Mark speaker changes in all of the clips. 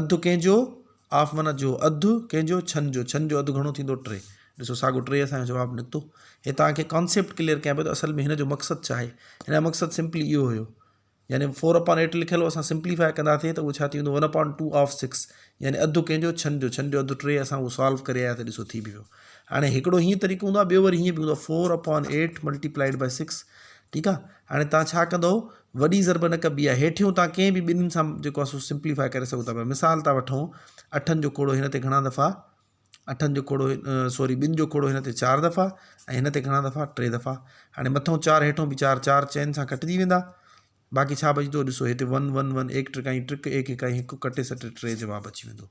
Speaker 1: اڌ ڪنهن جو آف ون جو اڌ ڪنهن جو ڇهن جو ڇهن جو اڌ گهڻو ٿيندو ٽي ڏسو ساڳو ٽي اسان جو جواب نڪتو هي تان کي ڪانسيپٽ ڪليئر ڪيان پيو ته اصل ۾ هن جو مقصد ڇا آهي هن جو مقصد سمپلي اهو هيو يعني فور اپان ايٽ لکيل هو اسان سمپليفاء ڪنداسي ته اهو ڇا ٿي ويندو one upon two of six يعني اڌ ڪنهن جو ڇهن جو ڇهن جو اڌ ٽي اسان اهو سالو ڪري آياسي ڏسو ٿي بي ويو هاڻي هڪڙو هيئن طريقو هوندو آهي ٻيو وري هيئن به هوندو آهي four upon eight multiplied by six ٺيڪ آ هاڻي توهان ڇا ڪندئو وڏي ضرب نه ڪبي آهي هيٺيون توهان ڪنهن به ٻنهين سان جيڪو آهي سو سمپليفاء ڪري سگهو ٿا پيا مثال ٿا وٺون اٺن جو کوڙو هن تي گهڻا دفعا اٺن جو کوڙو سوري ٻن جو کوڙو هن تي چار دفعا ۽ هن تي گهڻا دفعا ٽي دفعا هاڻي مٿو چار هيٺو به چار چار چئن سان کٽجي ويندا باقي ڇا بچدو ڏسو هتي ون ون ون ايڪ ٽرڪائي ٽرڪ ايڪ اڪائي هڪ ڪٽي سٽي ٽي جواب اچي ويندو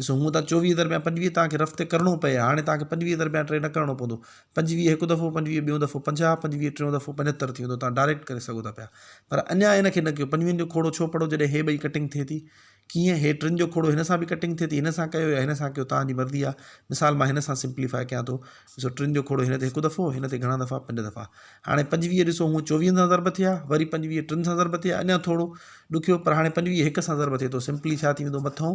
Speaker 1: ڏسو هونء ته چوويهه درميان پنجويهه توهان کي رفتي ڪرڻو پئي هاڻي توهان کي پنجويهه درميان ٽي نه ڪرڻو پوندو پنجويهه هڪ دفعو پنجويهه ٻيون دفعو پنجاهه پنجويهه ٽيون دفعو پنجهتر ٿي ويندو توهان ڊائريڪٽ ڪري سگهو ٿا پيا پر اڃا ان کي نه ڪيو پنجويهن جو کوڙو ڇو پڙهو جڏهن هي ٻئي ڪٽنگ ٿئي ٿي ڪيئن هي ٽن جو کوڙو هن سان به ڪٽنگ ٿئي ٿي هن سان ڪيو يا هن سان ڪيو توهان جي مرضي آهي مثال مان هن سان سمپليفاء ڪيان ٿو ڏسو ٽن جو کوڙو هن تي هڪ دفعو هن تي گهڻا دفعا پنج دفعا هاڻي پنجويهه ڏسو هونء چوويهن سان ضرب ٿيا وري پنجويهه ٽن سان ضرب ٿيا اڃا ٿورو ڏکيو پر هاڻي پنجويهه هڪ سان ضرب ٿئي ٿو سمپلي ڇا ٿي ويندو مٿئون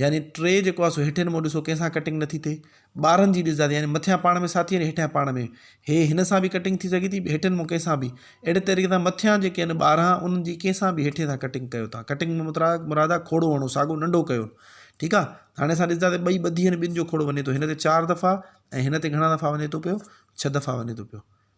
Speaker 1: يعني ٽي جيڪو آ سو هيٺين مون ڏسو ڪنهن سان ڪٽنگ نٿي ٿئي ٻارن جي ڏسدا يعني مٿيان پاڻ ۾ ساٿي آهن هيٺيان پاڻ ۾ هي هن سان به ڪٽنگ ٿي سگهي ٿي هيٺين مون ڪنهن سان به اهڙي طريقي سان مٿيان جيڪي آهن ٻارها انهن جي ڪنهن سان به هيٺين سان ڪٽنگ ڪيو تان ڪٽنگ ۾ مترا مراد آ کوڙو هڻو ساڳو ننڍو ڪيو ٺيڪ آ هاڻي اسان ڏسدا ته ٻئي ٻڌي آهن ٻن جو کوڙو وڃي ٿو هن تي چار دفعا ۽ هن تي گهڻا دفعا وڃي ٿو پيو ڇهه دفعا وڃي ٿو پيو